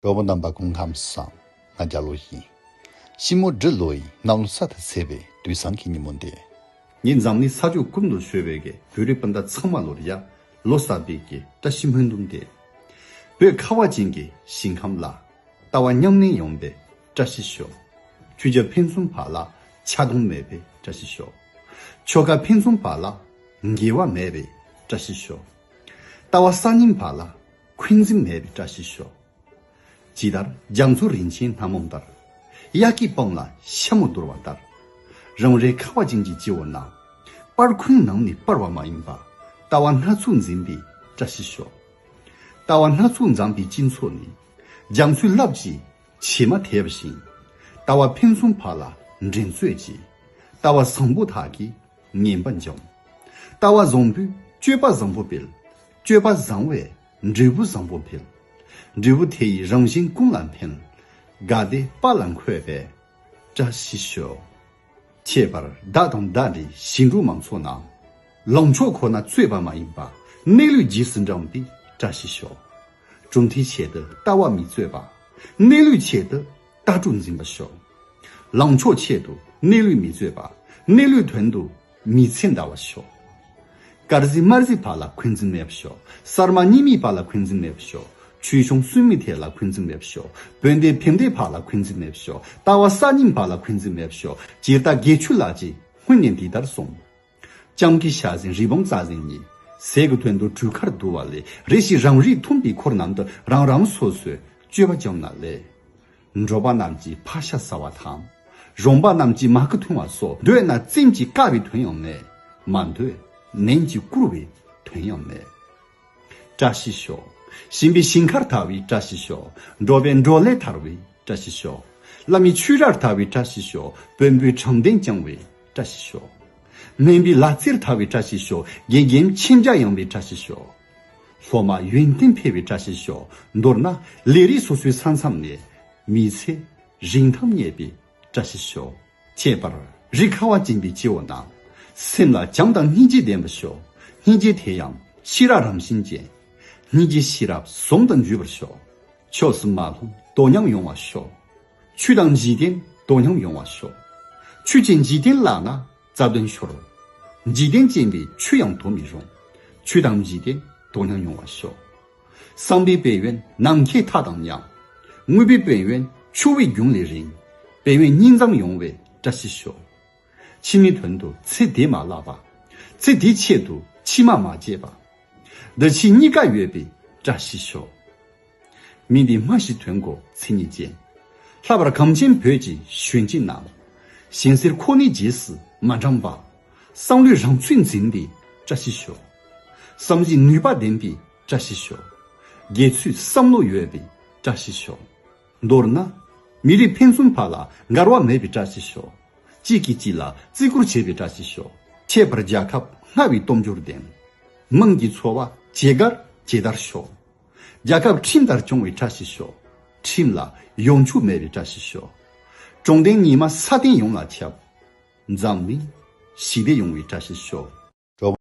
གྲོགས་པོ་རྣམ་པ་ཀུན་ཁམས་སང་ང་རྒྱ་ལོ་ཡིན། ཤིང་མོ་འབྲི་ལོ་ཡིས་སྣང་ལོ་ས་དང་བསྲེས་པའི་དུས་བཟང་གི་ཉིན་མོ་འདི། ངས་འཛམ་གླིང་ས་ཕྱོགས་ཀུན་ཏུ་བྱོལ་བའི་བོད་རིགས་སྤུན་ཟླ་ཚང་མ་ལོར་ཡར་ལོ་གསར་པའི་གྱི་བཀྲ་ཤིས་སྨོན་འདུན་འདེབས། བོད་ཁ་བ་ཅན་གྱི་ཞིང་ཁམས་ལ། ལྟ་བ་ཉམས་ལེན་ཡོང་པའི་བཀྲ་ཤིས་ཤོག། ཁྱུ་བྱ་ཕན་ཚུན་བར་ལ་ཆགས་སྡང་མེད་པའི་བཀྲ་ཤིས་ཤོག། ཆོལ་ཁ་ཕན་ཚུན་བར་ལ་འགལ་བ་མེད་པའི་བཀྲ་ཤིས་ཤོག། ལྟ་བ་གསར་རྙིང་བར་ལ། འཁོན་འཛིན་མེད་པའི་བཀྲ་ཤིས་ཤོག། ཇི་ལྟར་རྒྱ་མཚོ་རིན་ཆེན་སྣ་མོ་ལྟར། གཡག་གི་སྤང་ལ་ཤ་མོ་བརྡོལ་བ་ལྟར། རང་རེའི་ཁ་བ་ཅན་གྱི་སྤྱི་བོ་ན། སྤར་འཁོན་ནང་ནས་སྤར་བ་མ་ཡིན་པ། ལྟ་བ་སྣ་ཚོགས་འཛིན་པའི་བཀྲ་ཤིས་ཤོག། ལྟ་བ་སྣ་ཚོགས་འཛམ་པའི་སྤྱི་མཚོ་ནས། རྒྱ་མཚོའི་རླབས་ཀྱིས་བྱེ་མ་དེད་བཞིན། ལྟ་བ་ཕུན་སུམ་བག་ལ་འདྲེན་མཛོད་ཅིག། ལྟ་བ་བཟང་པོ་དག་གིས་ངན་པ་འཇོམས། ལྟ་བ་བཟང་པོའི་སྤྱོད་པ་བཟང་པོ་སྤེལ། སྤྱོད་པ་བཟང་བས་འབྲས་བུ་བཟང་པོ་འཕེལ། འབྲས་བུ་དེ་ཡི་རང་བཞིན་ཀུན་ལ་འཕེལ། དགའ་བདེ་དཔའ་ལ་འཁོད་པས་བཀྲ་ཤིས་ཤོག། ཁྱད་པར་བདག་དང་བདག་འདྲའི་ཞིང་འབྲོག་མང་ཚོགས་རྣམས། ལངས་ཕྱོགས་ཁོ་ན་རྩོད་པ་མ་ཡིན་པ་གནས་ལུགས་རྗེས་སུ་འབྲངས་པས་བཀྲ་ཤིས་ཤོག། གྲུབ་མཐའི་ཆེད་དུ་ལྟ་བ་མི་རྩོད་པ། གནས་ལུགས་ཆེད་དུ་ལྟ་གྲུབ་འཛིན་པ་ཤོག། ལངས་ཕྱོགས་ཆེད་དུ་གནས་ལུགས་མི་རྩོད་པ། གནས་ལུགས་དོན་དུ་མི་ཚེ་འདའ་བ་ཤོག། དཀར་གཟི་དམར་གཟི་བར་ལ་འཁོན་འཛིན་མེད་པ་ཤོག། གསར་མ་གཉིས་མེད་བར་ལ་འཁོན་འཛིན་མེད་པ་ཤོག། ཆོས་གཞུང་སུན་མི་ཐེག་ལ་འཁོན་འཛིན་མེད་པ་ཤོག། དཔོན་སྡེ་ཕེབས་འདས་བར་ལ་འཁོན་འཛིན་མེད་པ་ཤོག། ལྟ་བ་གསར་རྙིང་བར་ལ་འཁོན་འཛིན་མེད་པ་ཤོག། སྤྱིར་རྟ་རྒས་ཆུ་བླག་ཅིག་སྔོན་ནས་འདི་ལྟར་སོང། ལྕམ་གྱི་ཞག་ཟིན་རི་བོང་རྩྭ་ཟིན་གཉིས། ཟས་ཀྱི་དོན་དུ་གྲུ་ཁར་འདུ་བ་ལས་རེ་ཞིག་རང་རིགས་མཐུན་པའི་འཁོར་རྣམས་དུ་རང་རང་སོ་སོའི་སྤྱོད་པ་བཅོམ་ན་ལེགས། འགྲོ་པ་རྣམས་ཀྱིས་ཕ་ཤ་ཟ་བ་དང། རོང་པ་རྣམས་ཀྱིས་མ་ཀི་འཐུང་བ་སོགས་འདོད་ན་བཙན་གྱིས་བཀག་པའི་དོན་ཡང་མེད། མ་འདོད་ནན་གྱིས་བཀུར་བའི་དོན་ཡང་མེད། བཀྲ་ཤིས་ཤོག། ཞིམ་པའི་ཞིང་ཁར་དར་བའི་བཀྲ་ཤིས་ཤོག། འགྲོ་བའི་འབྲོག་ལས་དར་བའི་བཀྲ་ཤིས་ཤོག། བླ་མའི་ཆོས་རར་དར་བའི་བཀྲ་ཤིས་ཤོག། བོན་པོའི་དྲང་བདེན་བསྐྱངས་བའི་བཀྲ་ཤིས་ཤོག། སྨན་པའི་ལག་རྩེར་དར་བའི་བཀྲ་ཤིས་ཤོག། དགེ་རྒན་མཁྱེན་རྒྱ་ཡངས་པའི་བཀྲ་ཤིས་ཤོག། སློབ་མ་ཡོན་ཏན་འཕེལ་བའི་བཀྲ་ཤིས་ཤོག། མདོར་ན་ལས་རིགས་སོ་སོའི་ས་མཚམས་ནས། མི་ཚེ་རིང་དམ་ཉེས་པའི་བཀྲ་ཤིས་ཤོག། ཁྱད་པར་རིགས་ཁ་བ་སྦྱིན་པའི་སྐྱེ་བོ་རྣམས། སེམས་ལ་བྱམས་དང་སྙིང་རྗེ་ལྡན་པ་ཤོག། སྙིང་རྗེ་དེ་ཡང་ཤེས་རབ་རང་བཞིན་ཅན། སྙིང་རྗེ་ཤེས་རབ་ཟོམ་དང་འཇུས་པར་ཤོག། ཕྱོགས་སུ་མ་ལྷུང་དོ་མཉམ་ཡོང་བར་ཤོག། ཆུ་དང་འཇིག་རྟེན་དོ་མཉམ་ཡོང་བར་ཤོག། ཆུ་བྱིན་འཇིག་རྟེན་བརླག་ན་རྩ་དོན་ཤོར། འཇིག་རྟེན་ཅན་པའི་ཆུ་ཡང་དོར་མི་རུང། ཆུ་དང་བཞི་སྟེ་དོ་སྣང་མྱོང་བར་ཤོག། གསང་བའི་དཔལ་ཡོན་ནམ་མཁའི་མཐའ་དང་མཉམ། དངོས་པོའི་དཔལ་ཡོན་ཆུ་བོའི་རྒྱུན་ལས་རིང། དཔལ་ཡོན་སྙིང་གཙང་ཡོང་བའི་བཀྲ་ཤིས་ཤོག། ཕྱི་མའི་དོན་དུ་ཚེ་འདི་མ་བརླག་པ། ཚེ་འདིའི་ཆེད་དུ་ཕྱི་མ་མ་བརྗེད་པ། འདི་ཕྱི་གཉིས་ཀ་ཡོད་པའི་བཀྲ་ཤིས་ཤོག། མི་འདི་སྨྲ་ཤེས་དོན་གོ་ཚིག་ཉིད་ཅན། ལྷག་པར་གངས་ཅན་བོད་ཀྱི་གཞོན་སྐྱེས་རྣམས། གཞན་སེར་ཁོ་ནི་རྗེས་སུ་མ་འབྲངས་པ། བསམ་བློའི་རང་ཚུགས་འཛིན་པའི་བཀྲ་ཤིས་ཤོག། བསམ་གཞིགས་ནུས་པ་ལྡན་པའི་བཀྲ་ཤིས་ཤོག། དགེ་ཚུལ་བསམ་བློ་ཡོད་པའི་བཀྲ་ཤིས་ཤོག། མདོར་ན། མི་རིགས་ཕན་ཚུན་བར་ལ་འགལ་བ་མེད་པའི་བཀྲ་ཤིས་ཤོག། གཅིག་གིས་གཅིག་ལ་བརྩི་བཀུར་བྱེད་པའི་བཀྲ་ཤིས་ཤོག། ཁྱད་པར་རྒྱལ་ཁབ་སྔར་བས་སྟོབས་འབྱོར་ལྡན། དམངས་ཀྱི་འཚོ་བ་ཇེ་དགར་ཇེ་དར་ཤོག། རྒྱལ་ཁབ་ཁྲིམས་ལྟར་སྐྱོང་བའི་བཀྲ་ཤིས་ཤོག། ཁྲིམས་ལ་གཡོ་འཁྱུག་མེད་པའི་བཀྲ་ཤིས་ཤོག། དྲང་བདེན་ཉི་མ་ས་སྟེང་ཡོངས་ལ་ཁྱབ། འཛམ་གླིང་ཞི་བདེ་ཡོང་བའི་བཀྲ་ཤིས་ཤོག།